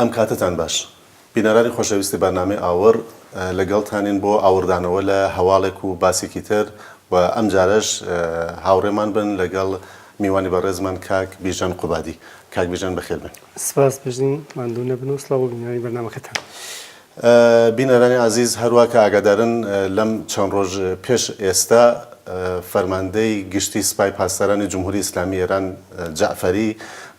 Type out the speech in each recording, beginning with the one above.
ئەم کاتەتان باش. بینەرانی خۆشەویستی بەرنامەی ئاوڕ، لەگەڵتانین بۆ ئاوڕدانەوە لە هەواڵێک و باسێکی تر و ئەم جارەش هاوڕێمان بن لەگەڵ میوانی بەڕێزمان کاک بیژەن قوبادی. کاک بیژەن بەخێربێن. سپاس بژین، ماندوو نەبن و سڵاو بۆ بینەرانی بەرنامەکەتان. بینەرانی ئازیز هەروا کە ئاگادارن لەم چەند ڕۆژ پێش ئێستا فەرماندەی گشتی سپای پاسدارانی جمهوری ئیسلامی ئێران جەعفەری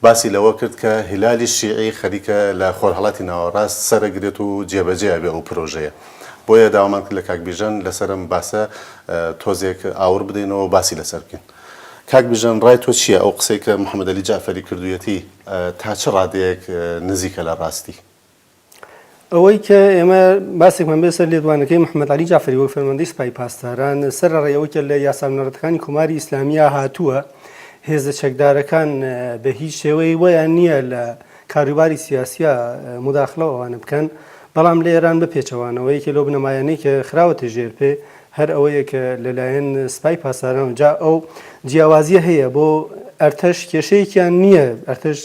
باسی لەوە کرد کە هیلالی شیعی خەریکە لە خۆرهەڵاتی ناوەڕاست سەرەگرێت و جێبەجێ ئەبێ ئەو پرۆژەیە بۆیە داوامان کرد لە کاک بیژەن لەسەر ئەم باسە تۆزێک ئاوڕ بدەینەوە باسی لەسەر بکەین. کاک بیژەن ڕای تۆ چییە ئەو قسەی کە محەمەد عەلی جەعفەری کردوویەتی تا چ ڕادەیەک نزیکە لە ڕاستی؟ ئەوەی کە ئێمە باسێکمان بێت سەر لێدوانەکەی محەممەد عەلی جەعفەری وەک فەرماندەی سپای پاسداران سەرەڕای ئەوەی کە لە یاسا بنەڕەتەکانی کۆماری ئیسلامییە هاتووە هێزە چەکدارەکان بە هیچ شێوەیەی وەیان نییە لە کاروباری سیاسییە مداخلە و ئەوانە بکەن بەڵام لە ئێران بە پێچەوانەوە یەکێ لەو بنەمایانەی کە خراوەتە ژێر پێ هەر ئەوەیە کە لەلایەن سپای پاسداران و جا ئەو جیاوازییە هەیە بۆ ئەرتەش کێشەیەکیان نییە ئەرتەش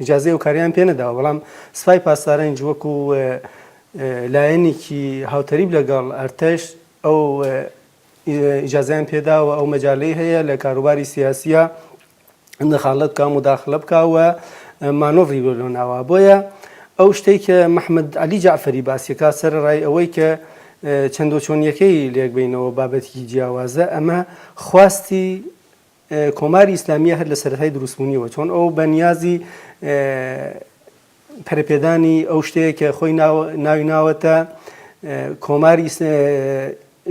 ئیجازەی ئەو کارەیان پێ نەداوە، بەڵام سپای پاسدارانیش وەکو لایەنێکی هاوتەریب لەگەڵ ئەرتەش ئەو ئیجازەیان پێ داوە، ئەو مەجالەی هەیە لە کاروباری سیاسییا دەخاڵەت بکا، موداخلە بکا و مانۆڤری بۆ لۆ ناوە. بۆیە ئەو شتەی کە محمەد عەلی جەعفەری باسی دەکا سەرەڕای ئەوەی کە چەندۆچۆنییەکەی لێک بەینەوە بابەتێکی جیاوازە، ئەمە خواستی کۆماری ئیسلامیە هەر لە سەرەتای دروستبوونیەوە چۆن ئەو بە نیازی پەرپێدانی ئەو شتەیە کە خۆی ناوی ناوەتە کۆماری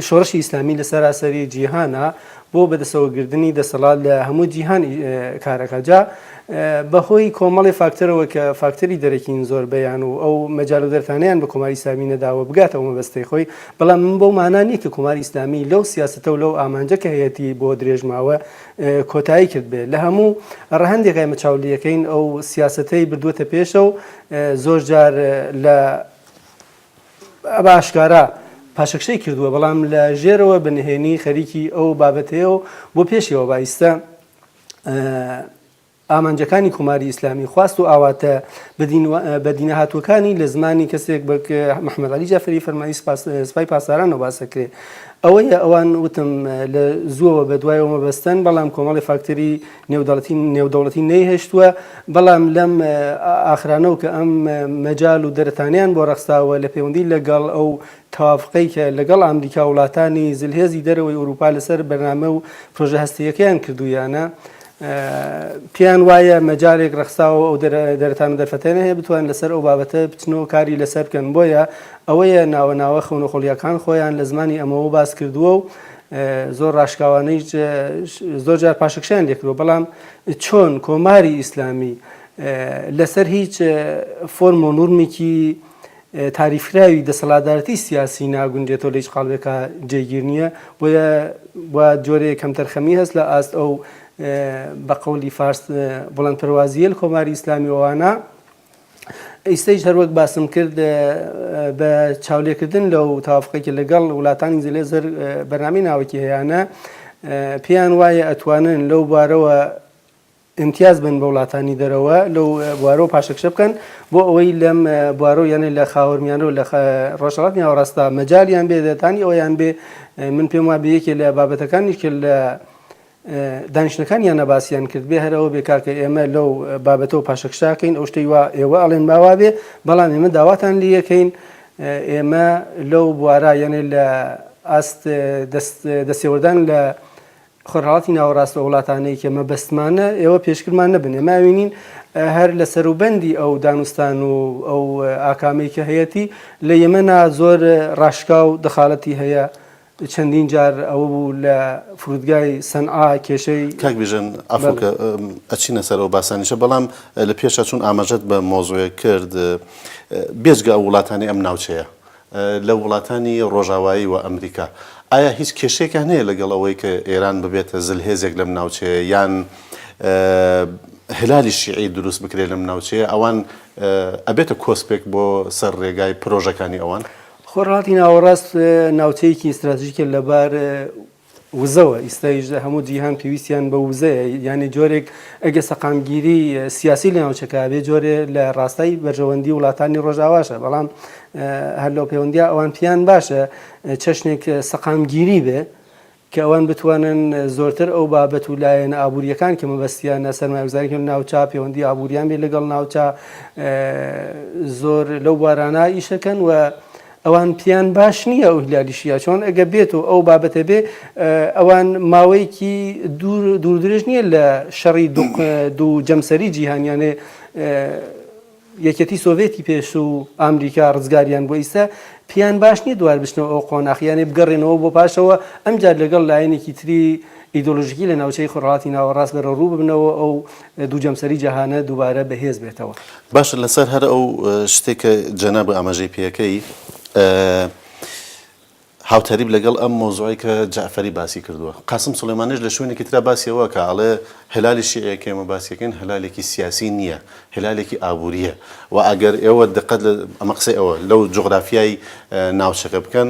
شۆڕشی ئیسلامی لە سەراسەری جیهانە بۆ بەدەسەوەگردنی دەسەڵات لە هەموو جیهان کارەکە جا بەهۆی کۆمەڵی فاکتەرەوە کە فاکتەری دەرەکین زۆر بیان و ئەو مەجال و دەرتانیان بە کۆماری سامی نەداوە بگاتەوە مەبەستی خۆی بەڵام ئەمە بەو مانا نییە کە کۆماری ئیسلامی لەو سیاسەتە و لەو ئامانجە کە هەیەتی بۆ درێژماوە کۆتایی کردبێت لە هەموو ڕەهەندێک ئێمە چاولیەکەین ئەو سیاسەتەی بردووەتە پێشە و زۆر جار لە باشکارا پاشەکشەی کردووە بەڵام لە ژێرەوە بنهێنی خەریکی ئەو بابەتەیە و بۆ پێشەوە بایستە ئامانجەکانی کۆماری ئیسلامی، خواست و ئاواتە بەدینەهاتووەکانی لە زمانی کەسێک بەک محمد علی جعفری فەرمانی سپای پاسدارانەوە باس ئەکرێ ئەوەیە ئەوان وتم لە زووەوە بەدوایەوە مەبەستەن بەڵام کۆمەڵی فاکتەری نێودەوڵەتی نەیهێشتووە بەڵام لەم ئاخرانەو کە ئەم مەجال و دەرەتانەیان بۆ ڕەخساوە لە پێوەندی لەگەڵ ئەو تەوافقەی کە لەگەڵ ئامریکاو وڵاتانی زلهێزی دەرەوەی ئوروپا لەسەر بەرنامەو پرۆژە هەستەییەکەیان کردوویانە پێیان وایە مەجالێک ڕەخساوە ئەو دەرەتان و دەرفەتەنە هەیە بتوان لەسەر ئەو بابەتە بچنەوە کاری لەسەر بکەن بۆیە ئەوەیە ناوە ناوە خەونەخۆڵیەکان خۆیان لە زمانی ئەمەوە باس کردووە و زۆر ڕاشکاوانەی زۆر جار پاشکشیان لێکرەوە بەڵام چۆن کۆماری ئیسلامی لەسەر هیچ فۆرم و نورمێکی تاریفکراوی دەسەڵاتدارێتی سیاسی ناگونجێتەوە لە هیچ قاڵبێکا جێگیر نیە بۆیە وا جۆرێ کەمتەرخەمی هەست لە ئاست ئەو بە قەولی فارس بڵند پەروازیە لە کۆماری ئیسلامی ئەوانە ئیسەیش هەروەک باسم کرد بە چاولێکردن لەو تاافقێکی لەگەڵ وڵاتانی زلێ زەر بەنامی ناوەکی هەیەە پێیان وایە ئەتوانن لەو بارەوە ئیمتیاز بن بە وڵاتانی دەرەوە لەو بوارەوە پاشەکشە بکەن بۆ ئەوەی لەم بوارەوە یانە لە خاوەرمیانەوە لە ڕۆژهڵات ناوەڕاستە مەجالیان بێ دەتانی ئەویان بێ من پێم وا بەیەکێ لە بابەتەکانی کرد لە دانیشتەکان یان نەباسییان کرد بێ هەرەوە بێ کاکە ئێمە لەو بابەتەوە پاشەکشاکەین ئەو شتەی وا ئێوە ئەڵێن باوا بێ بەڵام ئێمە داواتان لە یەکەین ئێمە لەو بوارە یانێ لە ئاست دەستێوەردان لە خۆرهەڵاتی ناوەڕاست و وڵاتانەی کە مەبەستمانە ئێوە پێشکرمان نەبن ئێمە ئەوینین هەر لە سەروبەندی ئەو دانوستان و ئەو ئاکامەی کە هەیەتی لە یەمەنا زۆر ڕاشکا و دەخاڵەتی هەیە چەندین جار ئەوە بوو لە فرودگای سەنعا کێشەی کاک بیژەن عەفوکە ئەچینە سەر ئەو باسانیشە بەڵام لە پێشا چون ئاماژەت بە مۆزوعێک کرد بێجگە ئەو وڵاتانی ئەم ناوچەیە لە وڵاتانی ڕۆژاوایی و ئەمریکا، ئایا هیچ کێشەیەکیان هەیە لەگەڵ ئەوەی کە ئێران ببێتە زلهێزێک لەم ناوچەیە یان هلالی شیعی دروست بکرێت لەم ناوچەیە، ئەوان ئەبێتە کۆسپێک بۆ سەر ڕێگای پرۆژەکانی ئەوان؟ خۆرهەڵاتی ناوەڕاست ناوچەیەکی ستراتژیکە لەبار وزەوە، ئیستایش هەموو جیهان پێویستیان بە وزەیە، یانی جۆرێک ئەگە سەقامگیری سیاسی لە ناوچەکە هەبێ جۆرێ لە ڕاستای بەرژەوەندی وڵاتانی ڕۆژاواشە، بەڵام هەر لەو پێوەندیا ئەوان پێیان باشە چەشنێک سەقامگیری بێ، کە ئەوان بتوانن زۆرتر ئەو بابەت و لایەنە ئابوورییەکان کە مەبەستیانە سەرمایەگوزاری کەن ناوچە پێوەندی ئابووریان بێ لەگەڵ ناوچە زۆر لەو بوارانە ئیشەکەن و ئەوان پێیان باش نییە ئەو هلال شیعە چۆن ئەگە بێت و ئەو بابەتە بێ ئەوان ماوەیەکی دوور دوور درێژ نییە لە شەڕی دوو جەمسەری جیهانیانێ یەکەتی سۆڤێتی پێش و ئامریکا ڕزگاریان بۆ ئیستا پیان باش نیە دوار بچنەوە ئەو قۆناخیانێ بگەڕێنەوە بۆ پاشەوە ئەمجار لەگەڵ لایەنێکی تری ئیدۆلژیکی لە ناوچەی خۆڕاتی ناوەڕاست بەرە ڕوو ببنەوە ئەو دوو جەمسەری جەهانە دووبارە بەهێز بێتەوە. باشە لەسەر هەر ئەو شتەی کە جەنابت ئاماژەی پێکەی هاوتەریب لەگەڵ ئەم مەوزوعەی کە جەعفەری باسی کردووە قاسم سولەیمانیش لە شوێنێکی ترا باسی ئەوە کە ئەڵێ هەلالی شیعەیە کە ئێمە باسی دەکەین هەلالێکی سیاسی نییە هەلالێکی ئابوورییە و ئەگەر ئێوە دقەت لە ئەمە قسەی ئەوە لەو جوغرافیای ناوچەکە بکەن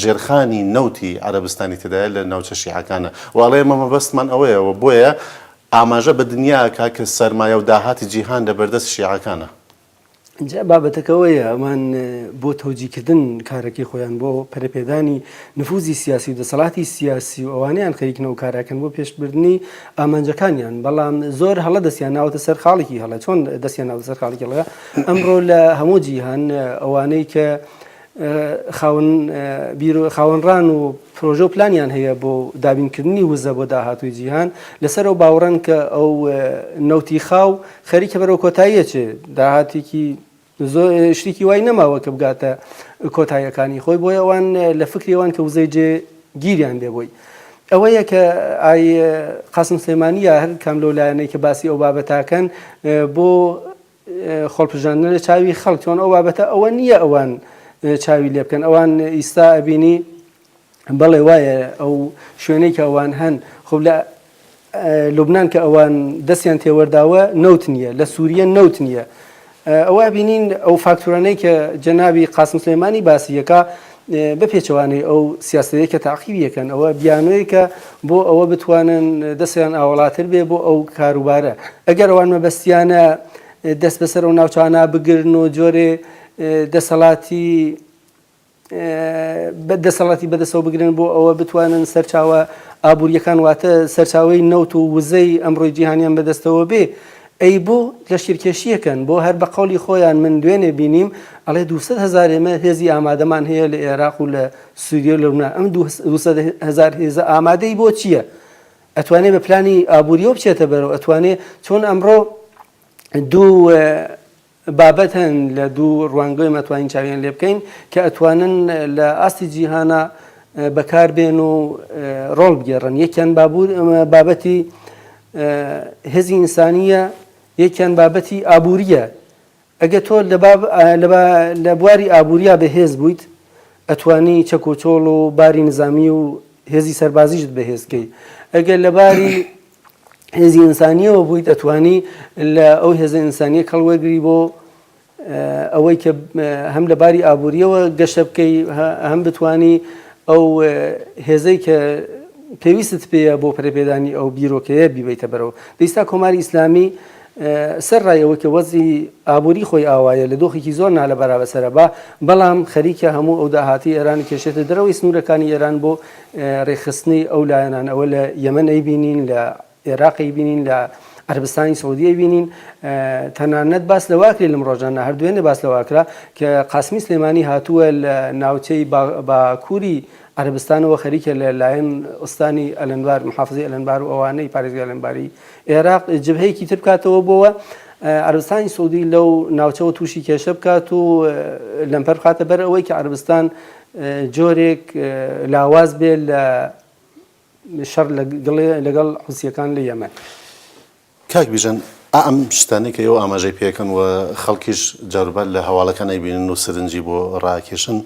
ژێرخانی نەوتی عەرەبستانی تێدایە لە ناوچە شیعەکانە و ئەڵێ ئێمە مەبەستمان ئەوەیە و بۆیە ئاماژە بە دنیا ئەکا کە سەرمایە و داهاتی جیهان لە بەردەست شیعەکانە. جا بابەتەکە ئەوەیە ئەمان بۆ تەوجیکردن کارەکەی خۆیان بۆ پەرەپێدانی نفوزی سیاسی و دەسەڵاتی سیاسی و ئەوانەیان خەریکن ئەو کارە ئەکەن بۆ پێشبردنی ئامانجەکانیان بەڵام زۆر هەڵە دەستیان ناوەتە سەر خاڵێکی هەڵە چۆن دەستیان ناوەتە سەر خاڵێکی هەڵە ئەمڕۆ لە هەموو جیهان ئەوانەی کە خاوەن بیر و خاوەن ڕان و پرۆژە و پلانیان هەیە بۆ دابینکردنی وزە بۆ داهاتووی جیهان لەسەر ئەو باوڕەن کە ئەو نەوتی خاو خەریکە بەرەو کۆتاییە چێ داهاتێکی زۆر شتێکی وای نەماوە کە بگاتە کۆتاییەکانی خۆی بۆیە ئەوان لە فکری ئەوان کە وزەی جێ گیریان لێ بۆی ئەوەیە کە ئای قاسم سلێمانیە هەر کام لەو لایەنەی کە باسی ئەو بابەتاکەن بۆ خۆڵپژاندنە لە چاوی خەڵک چۆن ئەو بابەتە ئەوە نییە ئەوان چاوی لێ بکەن ئەوان ئیستا ئەبینی بەڵێ وایە ئەو شوێنەی کە ئەوان هەن خۆ لە لوبناان کە ئەوان دەستیان تێوەرداوە نەوت نییە لە سووریە نەوت نییە ئەوە بینین ئەو فاکتورانەی کە جەناوی قاسم سلێمانی باسیەکە بە پێچەوانەی ئەو سیاسەتەی کە تاقیبی یەکەن ئەوە بیانۆیەکە بۆ ئەوە بتوانن دەستیان ئاوەڵاتر بێ بۆ ئەو کاروبارە ئەگەر ئەوان مەبەستیانە دەست بەسەر و ناوچانە بگرن و جۆرێ دەسەڵاتی بە دەسەڵاتی بەدەسەوە بگرن بۆ ئەوە بتوانن سەرچاوە ئابوووریەکان واتە سەرچاوی نەوت و وزەی ئەمڕۆی جیهانیان بەدەستەوە بێ ئەی بۆ لەشکرکێشیەکەن بۆ هەر بە قەولی خۆیان من دوێنێ بینیم ئەڵێ دوو سەد هەزار ئێمە هێزی ئامادەمان هەیە لە ئێراق و لە سوریە و لەبنان ئەم دوو سەد هەزار هێزە ئامادەی بۆ چییە ئەتوانێ بە پلانی ئابووریەوە بچێتە بەرەوە ئەتوانێ چۆن ئەمڕۆ دوو بابەت هەن لە دوو ڕوانگەویم ئەتوانین چاویان لێ بکەین کە ئەتوانن لە ئاستی جیهانا بەکار بێن و ڕۆڵ بگێڕن یەکیان بابەتی هێزی ئینسانیە یەکیان بابەتی ئابووریە ئەگە تۆ لە بواری ئابووریا بەهێز بوویت ئەتوانی چەک و چۆڵ و باری نزامی و هێزی سەربازیشت بەهێزکەی ئەگەر لەباری هێزی ئینسانیەوە بوویت ئەتوانی لە ئەو هێزە ئینسانیە کەڵ وەرگری بۆ ئەوەی کە هەم لە باری ئابوووریەوە گەشە بکەی هەم بتانی ئەو هێزەی کە پێویستت پێەیە بۆ پرەپێدانی ئەو بیرۆکەیە بیبیتە بەرەوە دیستا کۆماری ئیسلامی سەر ڕایەوە کە وەزی ئابووری خۆی ئاوایە لە دۆخێکی زۆر نالە بەرابەسەرە بە بەڵام خەریکە هەموو ئەو داهاتی ئێرانی کێشێتە دەرەوەی سنوورەکانی ئێران بۆ رێکخستنی ئەو لایەنان ئەوە لە یەمەن ئەیبینین لە ئێراق ئەیبینین لە عەربستانی سعودی ئەیبینین تەنانەت باس لەواکرێ لەم ڕۆژانە هەردوێنێ باس لەواکرا کە قاسمی سلێمانی هاتووە لە ناوچەی باکووری عەربستانەوە خەریکە لە لایەن ئوستانی ئەلەنبار محافزی ئەلەنبار و ئەوانەی پارێزگای ئەلەنباری ئێراق جبهەیەکی تر بکاتەوە بۆوە عربستانی سعودی لەو ناوچەوە تووشی کێشە بکات و لەمپەر بخاتە بەر ئەوەی کە عربستان جۆرێک لاواز بێت لە شەڕ لەگەڵ حوسییەکان لە یەمەن. کاک بیژەن ئا ئەم شتانەی کە ئێوە ئاماژەی پێ ئەکەن و خەڵکیش جاروبار لە هەواڵەکان ئەیبینن و سرنجی بۆ ڕائەکێشن،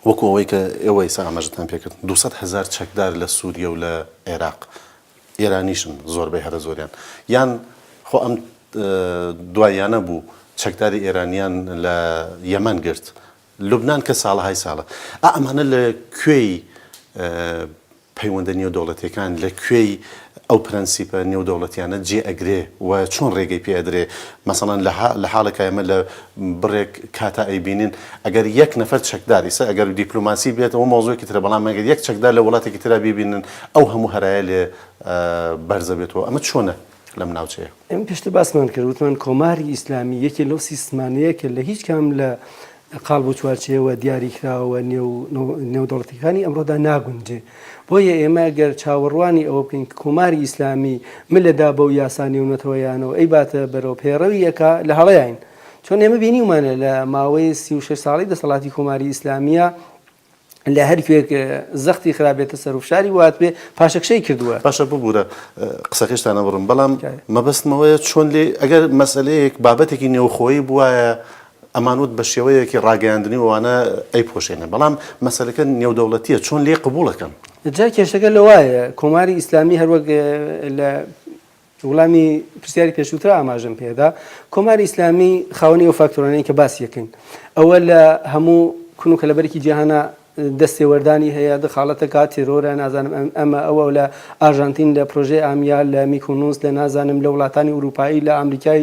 وەکوو ئەوەی کە ئێوە ئیستا ئاماژەتان پێ کرد، دوو سەد هەزار چەکدار لە سووریە و لە عێراق ئێرانیشن زۆربەی هەرە زۆریان، یان خۆ ئەم دواییانە بوو چەکداری ئێرانیان لە یەمەن گرت، لوبنان کە ساڵەهای ساڵە ئا ئەمانە لە کوێی پەیوەندە نێودەوڵەتیەکان لە کوێی ئەو پرەنسیپە نێودەوڵەتیانە جێ ئەگرێ و چۆن ڕێگەی پێ ئەدرێ مەسەڵەن لە لە حاڵێکا ئێمە لە بڕێک کاتا ئەیبینین ئەگەر یەک نەفەر چەکدار ئیسە ئەگەر دیپلۆماسی بێت ئەوە مەوزوعێکی ترە بەڵام ئەگەر یەک چەکدار لە وڵاتێکی ترا بیبینن ئەو هەموو هەرایە لێ بەرزە بێتەوە ئەمە چۆنە؟ لەم ناوچەیە. ئێمە پێشتر باسمان کرد وتمان کۆماری ئیسلامی یەکێ لەو سیستمانەیە کە لە هیچ کام لە قال بۆ چوارچەیەوە دیاری کراوە نێودەوڵەتەکانی ئەمڕۆدا ناگونجێ بۆیە ئێمە گەر چاوەڕوانی ئەوە بکەین کۆماری ئیسلامی من لەدا بەو یاسا نێونەتەوەیانەوە ئەی باتە بەرەو پێڕەویەکە لە هەڵەیین چۆن ئێمە بینیمانە لە ماوەی سی ساڵی دەسەڵاتی کۆماری ئیسلامیە لە هەر کوێک زەختی خرابێتە سەر و فشاری وات بێ پاشەکشەی کردووە. باشە ببوورە قسەکەشتان ئەبڕم بەڵام مەبەستمەوەیە چۆن لێ ئەگەر مەسەلەیەک بابەتێکی نێوخۆیی بوایە ئەمان وت بە شێوەیەکی ڕاگەیاندنی وانە ئەی پۆشێنە بەڵام مەسەلەکە نێودەوڵەتیە چۆن لێ قبولەکەن جا کێشەکە لە وایە کۆماری ئیسلامی هەروەک لە وڵامی پرسیاری پێشووتر ئاماژەم پێدا، کۆماری ئیسلامی خاوەنی ئەو فاکتۆرانەی کە باسی یەکەین، ئەوە لە هەموو کون و کەلەبەرێکی جیهانا دەستێوەردانی هەیە، دخالەتە کات تێرۆرە نازانم ئەمە ئەوە لە ئارژانتین لە پرۆژەی ئامیا لە میکۆنوس لە نازانم لە وڵاتانی ئورووپایی لە ئامریکای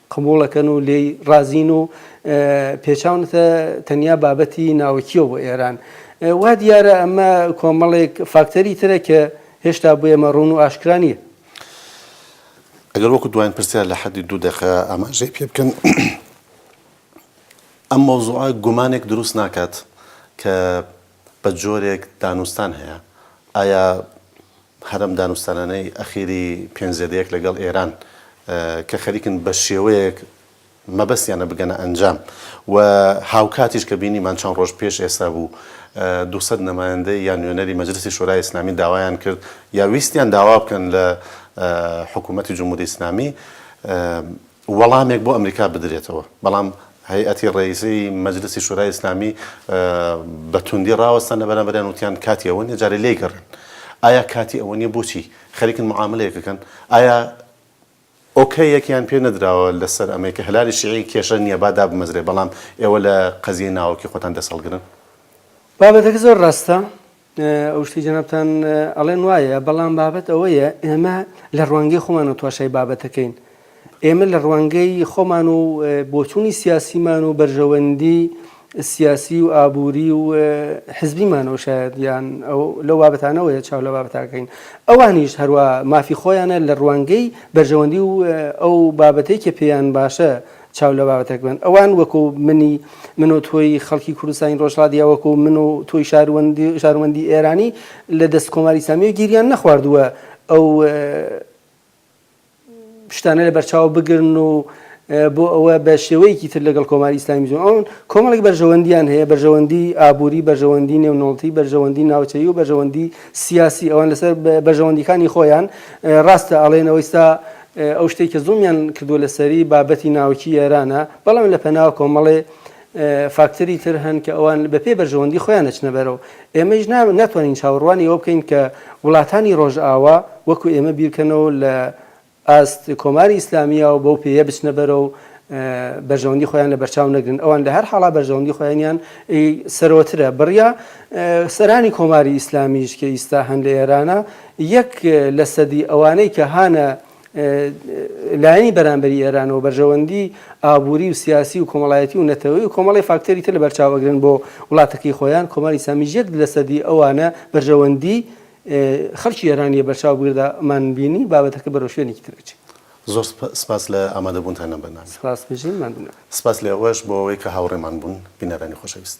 قبوڵەکەن و لێی ڕازین و پێچاونەتە تەنیا بابەتی ناوکییەوە بۆ ئێران. وا دیارە ئەمە کۆمەڵێک فاکتەری ترە کە هێشتا بۆ ئێمە ڕوون و ئاشکرا نییە. ئەگەر وەکو دواین پرسیار لە حەدی دوو دەقە ئاماژەی پێ بکەن، ئەم مەوزوعە گومانێک دروست ناکات کە بە جۆرێک دانوستان هەیە، ئایا هەرەم دانوستانانەی ئەخیری پێنج زێدەیەک لەگەڵ ئێران کە خەریکن بە شێوەیەک مەبەستیانە بگەنە ئەنجام و هاوکاتیش کە بینیمان چەند ڕۆژ پێش ئێستا بوو دوو سەد نەمایەندەی یا نوێنەری مەجلسی شۆرای ئیسلامی داوایان کرد یا ویستیان داوا بکەن لە حکوومەتی جمهوری ئیسلامی وەڵامێک بۆ ئەمریکا بدرێتەوە، بەڵام هەیئەتی ڕێیزی مەجلسی شورای ئیسلامی بە توندی ڕاوەستان لە بەرامبەریان وتیان کاتی ئەوە نیە جارێ لێیگەڕێن. ئایا کاتی ئەوە نیە بۆچی خەریکن معامەلەیەک بکەن؟ ئایا ئۆکەیەکیان پێ نەدراوە لەسەر ئەمەی کە هەلالی شیعی کێشە نیە با دابمەزرێ بەڵام ئێوە لە قەزیەی ناوەکی خۆتان دەست هەڵگرن؟ بابەتەکە زۆر ڕاستە ئەو شتەی جەنابتان ئەڵێن وایە، بەڵام بابەت ئەوەیە ئێمە لە ڕوانگەی خۆمانەوە تواشای بابەتەکەین. ئێمە لە ڕوانگەی خۆمان و بۆچوونی سیاسیمان و بەرژەوەندی سیاسی و ئابووری و حزبیمانەوە شاید یان لەو بابەتانەوەیە چاو لە بابەتاکەین ئەوانیش هەروە مافی خۆیانە لە ڕوانگەی بەرژەوەندی و ئەو بابەتێکی پێیان باشە چاو لە بابەتەک بن ئەوان وەکو منی من و تۆی خەڵکی کوردستانی ڕۆژهڵاتی یا وەکو من و تۆی شاروەندی شاروەندی ئێرانی لە دەست کۆماری ئیسلامییە گیریان نەخواردووە ئەو شتانە لە بەرچاو بگرن و بۆ ئەوە بە شێوەیەکی تر لەگەڵ کۆماری ئیسلامی جون ئەوان کۆمەڵێک بەرژەوەندیان هەیە بەرژەوەندی ئابووری بەرژەوەندی نێونەوەڵتی بەرژەوەندی ناوچەیی و بەرژەوەندی سیاسی ئەوان لەسەر بەرژەوەندیەکانی خۆیان ڕاستە ئەڵێن ئەوەیستا ئەو شتەی کە زوڵمیان کردووە لەسەری بابەتی ناوکی ئێرانە، بەڵام لە پەناوە کۆمەڵێ فاکتەری تر هەن کە ئەوان بە پێی بەرژەوەندی خۆیان ئەچنە بەرەو. ئێمەیش ناتوانین چاوەڕوانی ئەوە بکەین کە وڵاتانی ڕۆژئاوا وەکو ئێمە بیرکەنەوەو لە ئاست کۆماری ئیسلامییەوە بەو پێیە بچنە بەرەو بەرژەوەندی خۆیان لە بەرچاو نەگرن. ئەوان لە هەر حاڵا بەرژەوەندی خۆیانیان سەرەوەترە. بڕیا سەرانی کۆماری ئیسلامییش کە ئیستا هەن لە ئێرانە، یەک لە سەدی ئەوانەی کە هانە لایەنی بەرامبەری ئێرانەوە بەرژەوەندی ئابووری و سیاسی و کۆمەڵایەتی و نەتەوەی و کۆمەڵی فاکتەری تر لە بەرچاو ئەگرن بۆ وڵاتەکەی خۆیان کۆماری ئیسلامیش یەک لە سەدی ئەوانە بەرژەوەندی خەڵکی ئێرانیە بەرچاو بگردا مان بینی بابەتەکە بەرەو شوێنێکی تر ئەچێت. زۆر سپاس لە ئامادەبوونتان لەم بەرنامەیە. سپاس بژین ماندوو نەبن. سپاس لە ئێوەش بۆ ئەوەی کە هاوڕێمان بوون بینەرانی خۆشەویست.